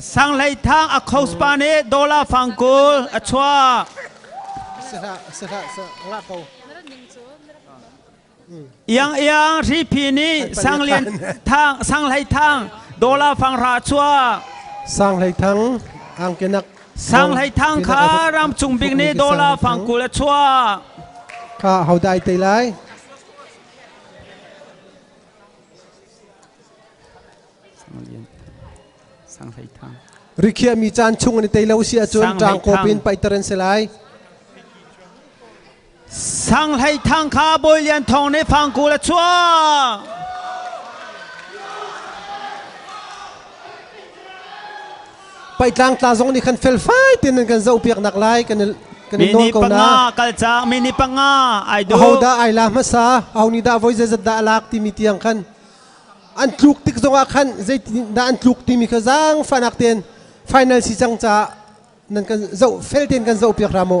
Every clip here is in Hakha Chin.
Sanghlei thang a khoas pa nih dollar fang kul a chuah. Iang iang hripi nih sanglin thang sanghlei thang dollar fang ra chuah. Sanghlei thang angkenak Sanghlei thang kha ramchung bik nih dollar fang kul a chuah. Kha ho dai te lai? Rikhiahmi caan chung an i tei lo si ahcun ṭang kawp in paihter an si lai. Sanghlei thang kha Bawi Lian Thawng nih fangkul a chuah. Paitlang tla zong nih khan felfai tein nan kan zohpiak nak lai kan i kan i nawl ko na kal cang mi ni panga ai du ho da ai la hmasa ho ni da voi zai zat da lak ti mi tiang khan an tluk tik zong ah khan zei da an tluk ti mi kha zang fanak ten final si chang cha nan kan zo fel ten kan zo piak ra mo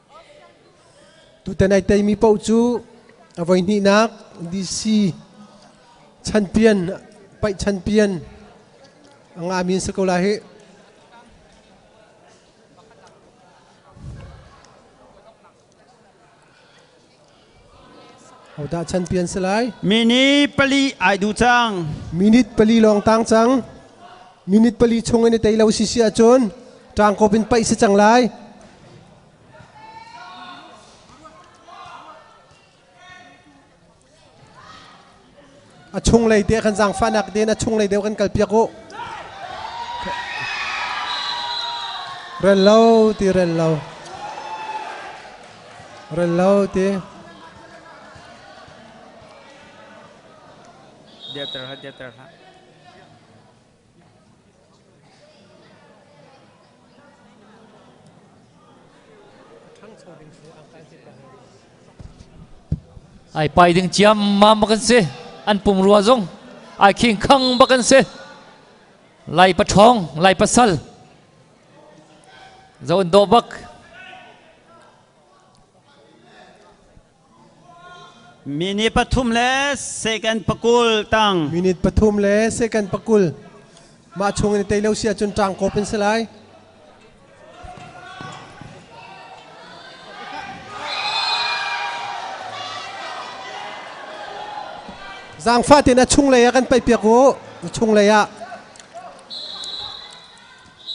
Tutan ai teimi paoh cu a voihnihnak DC chanpian paih chanpian a ngami an si ko lai hi. Hodah chanpi an si lai? Minute pali ai du cang. Minute pali lawng tang cang. Minute pali chung in i tei lo si si ahcun ṭangkop in paih si cang lai. a chunglei te kan zaangfahnak tein a chunglei deuh kan kalpiak u rel lo ti rel lo rel lo ti Dia terhad, dia terhad. ai pai ding ciammam bak an si an pung rua zong ai khing khang bak an si lai pathong lai pasal zaun do bak Minute pathum le second pakul tang. Minute pathum le second pakul. Mah chung in tei lo si ahcun ṭang kop in si lai. Zaangfah tein a chunglei ah kan paih piak u. A chunglei ah.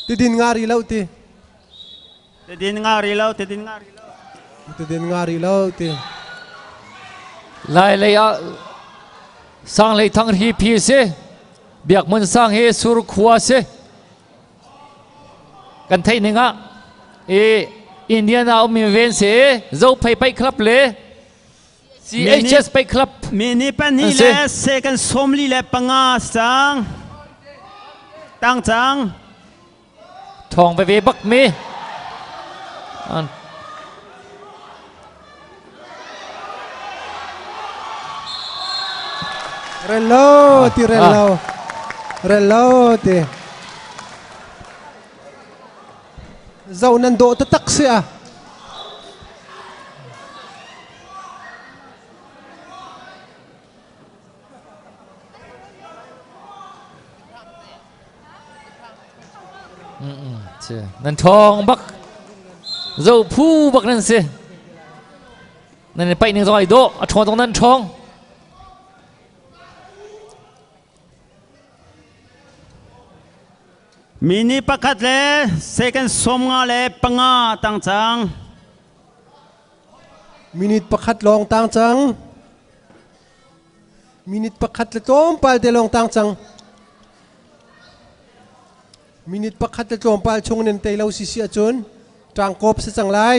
Tidin ngari lo ti. Tedin nga ri lo, tedin nga ri lo. Tedin nga ri lo ti. Lai lei ah sang lei thang hi phi si. Biak mun sang hi sur khua si. Kan thei ning ah i Indian a um ven si zo phei pai club le CHS pai club mini pani le second somli le panga sang tang chang Thawng veve bak mi. An Rello ti rello. Rello ti. Zau nan do ta tak si ah. nan thong bak zo phu bak nan si nan i paih ning zong ai do a thong zong nan thong mi ni pakhat le second som nga le panga tang cang minute pakhat long tang cang Minute pakhat le tlawmpal te lawng tang cang. Minute pakhat le tlawmpal chung nan tei lo sisi ahcun ṭangkop si cang lai.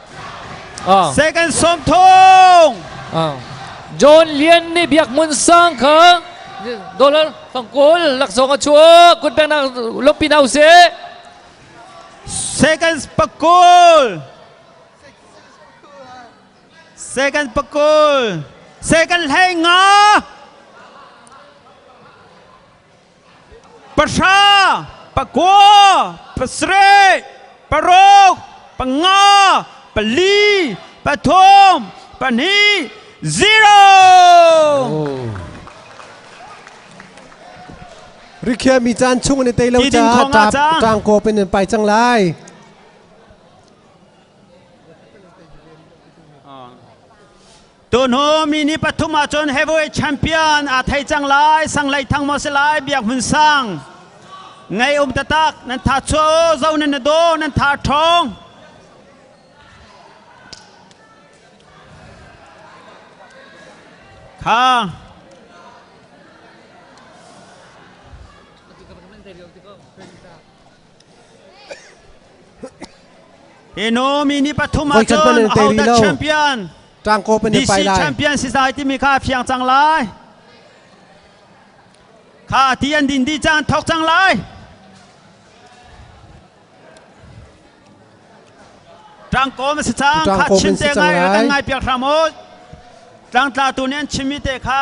Ah. Second song thong. Ah. John Lian nih biak mun sang kha dollar tangkul laksong a chuak kun peng nak lok pinau se Seconds pakul. Second pakul. Second hlenga. Pahra, pakua, pasarih, paruk, panga, pali, pathum, pahnih, zero. Rikhiah mi caan chung in i tei lo Tiding caah kong ah cang. ṭaang kawp in an pai cang lai. Tuhnu mi ni pathum ah cun heavyweight champion aa thei cang lai sanglei thang maw si lai biak hmun sang ngei um tatak nan tha chuo zo nan na do nan tha ṭhong kha Hi Nomi ni pathum ah Voice cun pale te rih Auta lo. champion Tang ko pan pai DC lai. champion si sai timi kha phiang cang lai. Kha ti an din di cang thok cang lai. Tang ko ma si cang Tang kha ko chin men si te ngai cang lai. kan ngai piak hram ot. Tang tla tu nih an chim mi te kha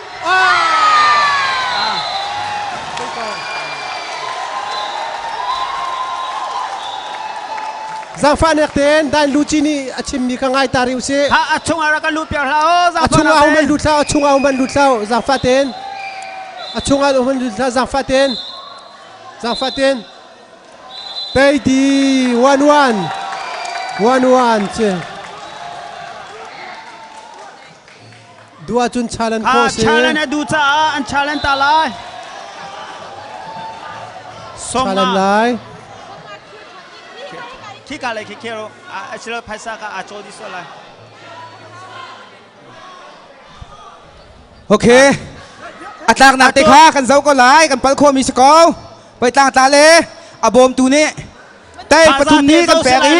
Zaangfahnak tein Dain Luci nih a chimmi kha ngai ta rih usih. Ha a chungah rak kan luh piak hlah o. A chungah hum an lut hlah, a chungah hum an lut hlah, zaangfah tein. A chungah hum an lut hlah, zaangfah tein. Zaangfah tein. Teidi 1-1. 1-1 ce. Dua cun Challenge kha khawh a si. Challenge a duh caah an challenge ta lai. Song Challenge ma lai. khika lei khikhe ro a sila phaisa ka a chaw di so lai Ok. A tlaknak te kha kan zoh ko lai. Kan pal khomi si ko. Pei tlangtla le a bawmtu nih Tei pathum nih kan pek i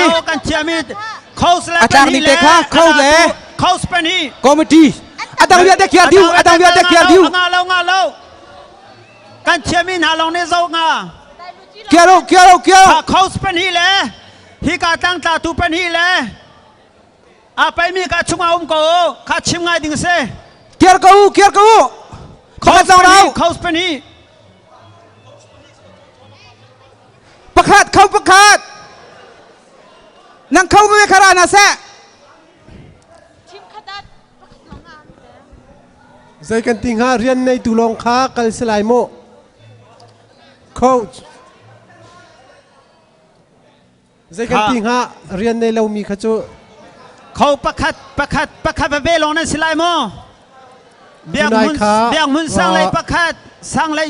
a tlak ni te kha kho le committee a dang vialte khiar diu a dang vialte khiar diu kan chiami hna lawng nih zo nga kiar u kiar u kiar u house pen hi le hi ka tang tla tu pen hi le a paimi ka chunga um ko kha chim ngai ding se kiar ko u kiar ko u khoka zong rau house pen hi pakhat kho pakhat nang kho ve khara na se zei kan ti hnga rian nei tu lawng kha kal si lai mu coach zei kan ti hnga rian nei lomi kha cu kho pakhat pakhat pakhat ve long nan si lai mu biak mun biak mun sang lei pakhat sang lei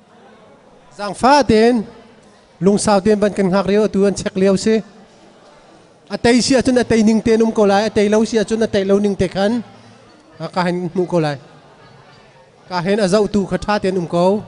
Zaangfah tein lungsau tein van kan hngak lio atu an check lio si. A tei si ahcun a tei ning tein um ko lai, a tei lo si ahcun a tei lo ning te khan ka hen hmuh ko lai. Ka hen a zohtu kha ṭha tein um ko.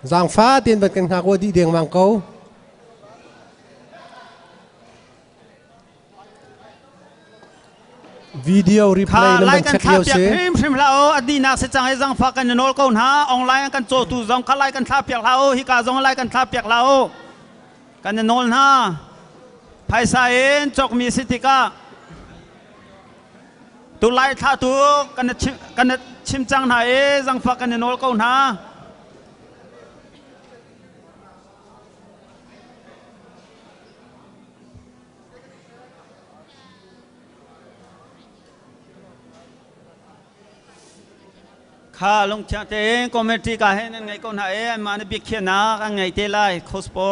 Zaangfa tein van kan hngak u dih dengmang ko. video replay na man check lio se phim hrim la o adi nak se chang e zangfa kan nol ko na online kan chotu zong kha lai kan thla piak la o hi ka zong lai kan thla piak la o Kan i nawl hna. Phaisa in cawkmi si tikah tulai thla tu kan i chim, kan i chim cang hna i zangfah kan i nawl ko hna. Kha lungthiang tein committee ka he nan ngei ko hna e anmah na biakhiahnak an ngei te lai khospo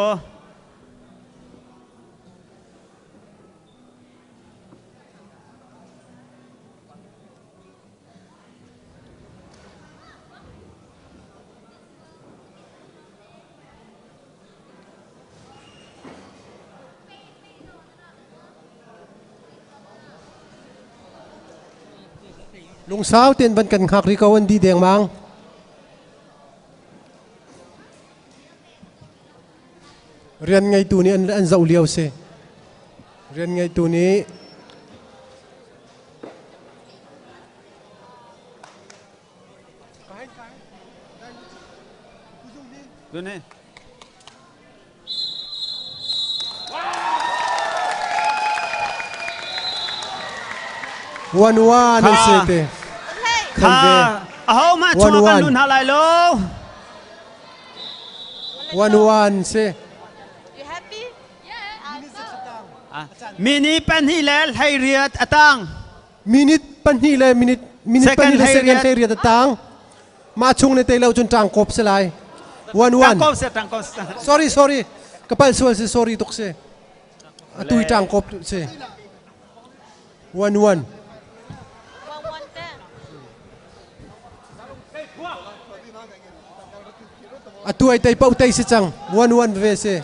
Lungsau tein van kan hngak rih ko an di dengmang. Rian ngeitu nih an, an zoh lio si. Rian ngeitu nih Tuni. One one an si te. Kha ahohmah chung kan nun hna lai lo. One one si. You happy? Yeah. Mi ni pen hi le hlei riat atang. minute pahnih le minute minute pahnih le second te riat tang ma chung ne te lo chun tang kop se lai one one sorry sorry kapal sual se sorry tuk se atui tang kop se one one atuai tai pau tai se chang one one ve se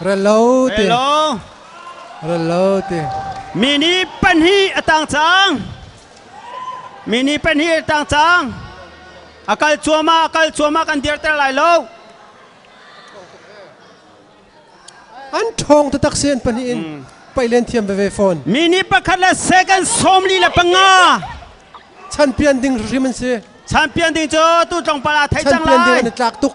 Ralo ti. Hello. Ralo ti. Mi ni pan hi a tang cang. Mi ni pan hi a tang cang. A kal cuama a kal cuama kan dirter lai lo. An thong te tak sen pan in pailen thiam ve phone. Mi ni pakhat le second somli la panga. Chan pian ding hrim an si. Champion ding cu tu tlongpala thai cang Champion ding an lai. i tlak tuk.